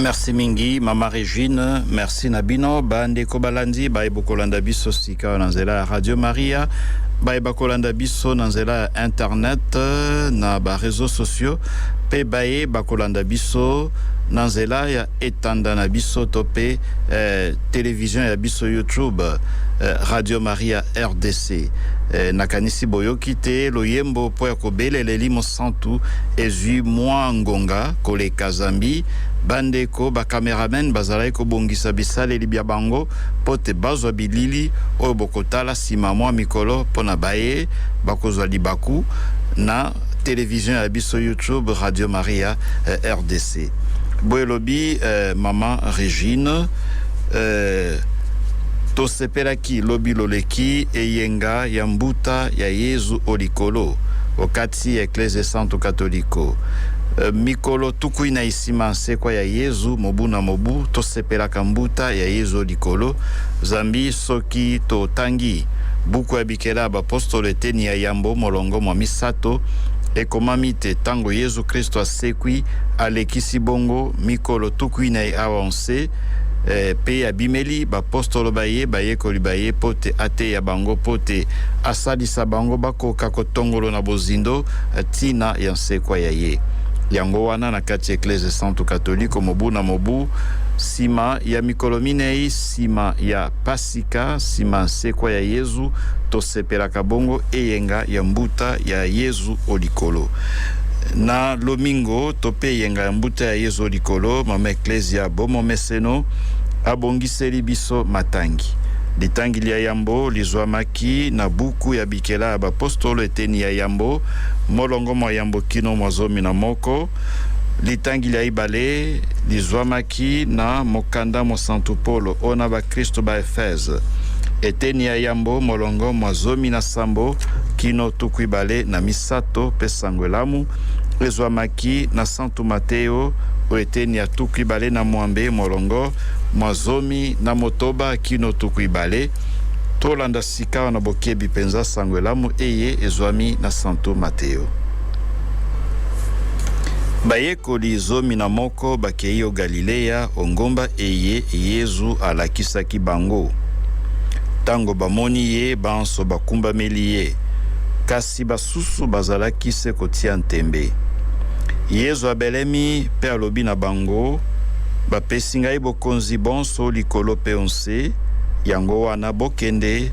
Merci mingi mama Regine, merci na bino bandeko balandi baye bokolanda biso sika na nzela ya Radio Maria baye bakolanda biso na nzela ya internet na ba réseaux sociaux pe baye bakolanda biso na nzela ya etanda na biso to pe eh, television ya biso YouTube eh, Radio Maria RDC eh, nakanisi boyoki te loyembo mpo ya kobelela elimo Santu ezwi mwa ngonga koleka zambi bandeko ba cameramen bazalaki kobongisa bisaleli bya bango mpo te bazwa bilili oyo bokotala nsima mwa mikolo mpo na baye bakozwa libaku na television ya biso YouTube Radio Maria, rdc. boye lobi eh, mama regine eh, tosepelaki lobi loleki eyenga ya mbuta ya yezu o likolo okati ya eklezia santu katoliko eh, mikolo tukui na isima nsekwa ya yezu mobu na mobu tosepelaka mbuta ya yezu o likolo zambi soki totangi buku ya Kela bapostolo eteni ya yambo molongo mwa misato, ekomami te tango Yezu Kristo asekwi, alekisi bongo mikolo tuku inei awa o nse, eh, pe abimeli bapostolo ba ye, bayekoli ba ye, po te ateya bango, po te asalisa bango bakoka kotongolo na bozindo tina ya nsekwa ya ye. Yango wana, na kati ya Eklezya Esantu Katoliko, mobu na mobu, sima ya mikolo minei sima ya Pasi, Sika, sima nsekwa ya Yezu, tosepelaka bongo eyenga ya mbuta ya Yezu o likolo. Na lomingo tope eyenga ya mbuta ya Yezu o likolo, Mama Eklezia bo momeseno abongiseli biso matangi. Litangi lia yambo lizuamaki na buku ya bikela ya bapostolo eteni ya yambo, molongo mwa yambo kino mwa zomi na moko. Litangi lia ibale lizuamaki na Mokanda Mosantu Polo ona Kristu ba Efeze, eteni ya yambo, molongo mwa zomi na sambo kino tuku ibale na misato, pe sango elamu ezwamaki na santu Mateo o eteni ya tuku ibale na mwambe, molongo mwa zomi na motoba kino tuku ibale. Tolanda sikawa na bokebi penza sango elamu eye ezwami na santu Mateo. Bayekoli zomi na moko bakei o Galileya, o ngomba eye Yezu alakisaki bango. Tango bamoni ye, banso bakumbameli ye, kasi basusu bazalaki se kotia ntembe. Yezu abelemi pe alobi na bango, Bapesi ngai bokonzi bonso o likolo pe o nse, yango wana bokende,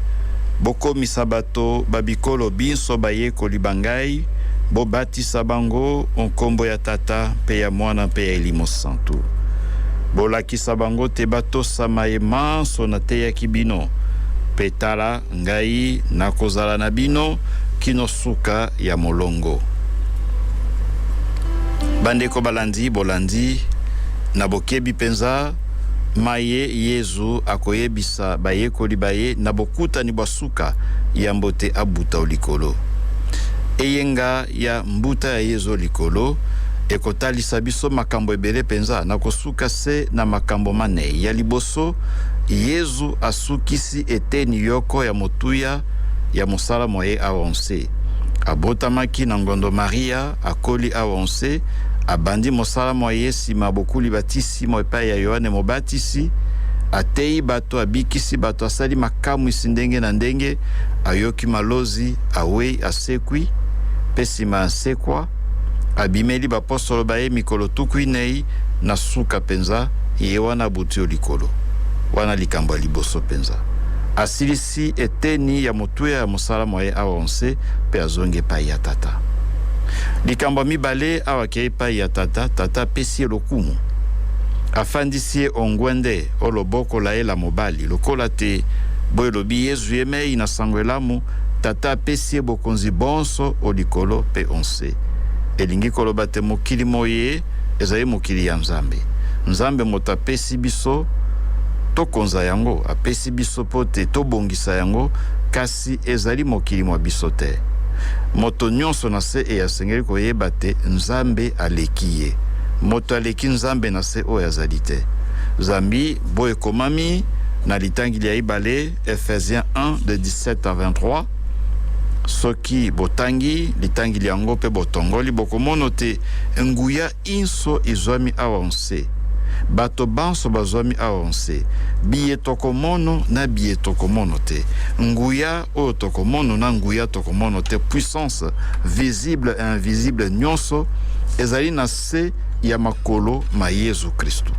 bokomisa bato ba bikolo binso bayekoli ba ngai, bobatisa bango o nkombo ya Tata, mpe ya Mwana, mpe ya Elimo Santu. Bolakisa bango te batosa maye manso nateyaki bino, mpe tala, ngai nakozala na bino kino suka ya molongo. Bandeko balandi, bolandi na bokebi mpenza maye Yezu akoyebisa bayekoli ba ye na bokutani bwa suka yambo te abuta o likolo. Eyenga ya mbuta ya Yezu o likolo ekotalisa biso makambo ebele penza. Nakosuka se na makambo manei. Ya liboso, Yezu asukisi eteni yoko ya motuya ya mosala mwa ye awa o nse. Abotamaki na ngondo Maria, akoli awa o nse, abandi mosala mwa ye sima bokuli batisimo epai ya Yoane Mobatisi, ateyi bato, abikisi bato, asali makamwisi ndenge na ndenge, ayoki malozi, awei, Asekwi, mpe nsima ya nsekwa, abimeli bapostolo ba ye mikolo tuku inei, na suka mpenza, ye wana abuti o likolo. Wana likambo ya liboso mpenza. Asilisi eteni ya motuya ya mosala mwa ye awa o nse, mpe azongi epai ya Tata. Likambo ya mibale, awa akei epai ya Tata, Tata apesi ye lokumu. Afandisi ye o ngwende o loboko la ye la mobali, lokola te, boye elobi Yezu yemei na Sango Elamu, Tata apesi ye bokonzi bonso o likolo mpe o nse. Elingi koloba te mokili moye ezali mokili ya Nzambe. Nzambe moto apesi biso tokonza yango, apesi biso mpo te tobongisa yango, kasi ezali mokili mwa biso te. Moto nyonso na se eye asengeli koyeba te Nzambe aleki ye. Moto aleki Nzambe na se oyo azali te, zambi bo ekomami na litangi lya ibale, Ephésiens 1 de 17 à 23 soki botangi litangi lyango mpe botongoli bokomono te nguya inso izwami awa nse bato banso bazwami awa nse biye tokomono na biye tokomono te nguya oyo tokomono na nguya tokomono te puissance visible et invisible nyonso ezali na se ya makolo ma Yezu Kristu.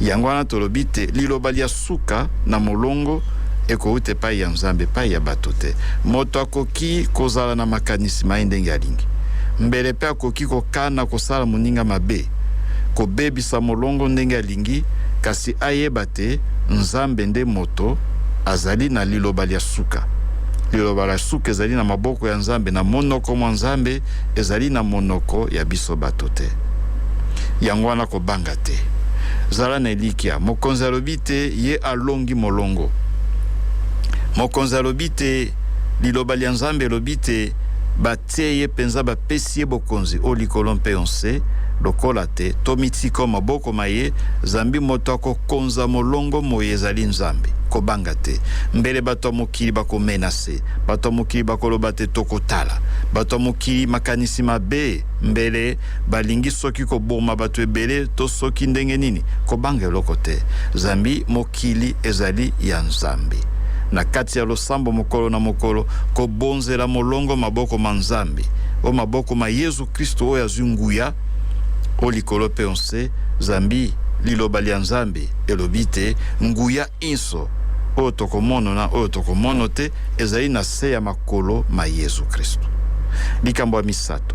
Yango wana tolobi te liloba lya suka na molongo ekouta epai ya Nzambe, epai ya bato te. Moto akoki kozala na makanisi ma ye ndenge alingi, mbele mpe akoki kokana kosala moninga mabe, kobebisa molongo ndenge alingi, kasi ayeba te Nzambe nde moto azali na liloba lya suka. Liloba lya suka ezali na maboko ya Nzambe, na monoko mwa Nzambe. Ezali na monoko ya biso bato te. Yango wana kobanga te. Zala na elikya. Mokonzi alobi te ye alongi molongo. Mokonzi alobi te, Liloba lya Nzambe elobi te, batie ye mpenza, bapesi ye bokonzi o likolo mpe o nse, lokola te tomitika o maboko ma ye, zambi moto akokonza molongo moye ezali Nzambe. Kobanga te. Mbele bato ya mokili bakomenase. te. Bato ya mokili bakoloba te tokotala. Bato ya mokili makanisi mabe mbele balingi soki koboma bato ebele to soki ndenge nini. Kobanga eloko te. Zambi mokili ezali ya Nzambe. Na kati ya losambo mokolo na mokolo, kobonzela molongo maboko ma Nzambe, o maboko ma Yezu Kristu oyo azwi nguya o likolo mpe o nse, zambi Liloba lya Nzambe elobi te nguya inso oyo tokomono na oyo tokomono te ezali na se ya makolo ma Yezu Kristu. Likambo ya misato,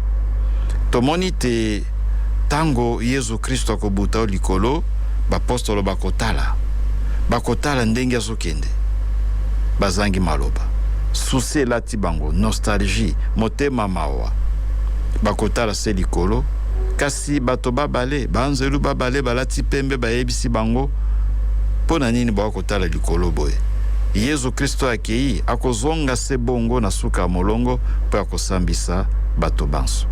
tomoni te tango Yezu Kristu akobuta o likolo, bapostolo bakotala, bakotala ndenge azokende, bazangi maloba, susi elati bango, nostalgie, motema mawa, bakotala se likolo, Kasi bato babale, baanzelu babale balati pembe bayebisi bango, Mpo na nini boya kotala likolo boye? Yezu Kristo akei, akozonga se bongo na suka ya molongo mpo ya kosambisa bato banso.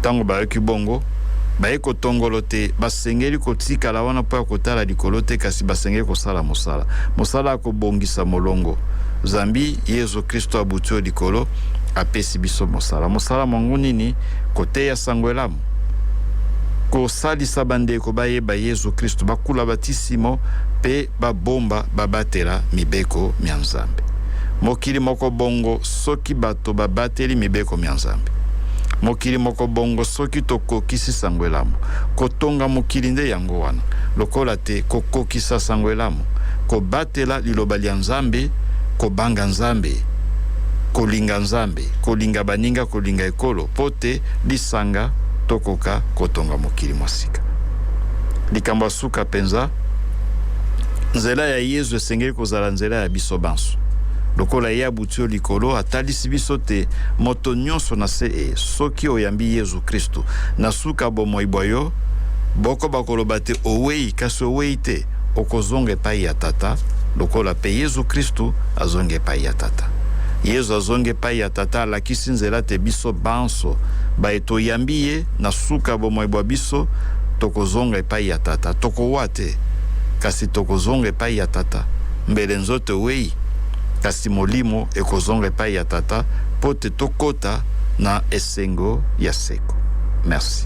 Tango bayoki bongo, bayei kotongolo tè basengeli kotikala wana mpo ya kotala likolo te, kasi basengeli kosala mosala, mosala ya kobongisa molongo, zambi Yezu Kristo abuti o likolo, apesi biso mosala. Mosala mwango nini? koteya Sango Elamu, kosalisa bandeko bayeba Yezu Kristu, bakula batisimo pe babomba babatela mibeko mya Nzambe. Mokili moko bongo soki bato babateli mibeko mya Nzambe. Mokili moko bongo soki tokokisi Sango Elamu. Kotonga mokili nde yango wana, lokola te kokokisa Sango Elamu, kobatela liloba lya Nzambe, kobanga Nzambe, kolinga Nzambe. mpe kolinga baninga, kolinga ekolo mpo te lisanga tokoka kotonga mokili mwa sika. Likambo ya suka mpenza, nzela ya Yezu esengeli kozala nzela ya biso banso. Lokola ye abuti o likolo, atalisi biso te moto nyonso na se e, soki oyambi Yezu Kristu na suka bomoi bwa yo, bokoba koloba te owei, kasi owei te. Okozonga epai ya Tata lokola mpe Yezu Kristu azongi epai ya Tata. Yezu azongi epai ya Tata alakisi nzela te biso banso baye toyambi ye na suka ya bomoi bwa biso tokozonga epai ya Tata. Tokowa te, kasi tokozonga epai ya Tata. Mbele nzoto ewei, kasi molimo ekozonga epai ya Tata mpo te tokota na esengo ya seko. Merci.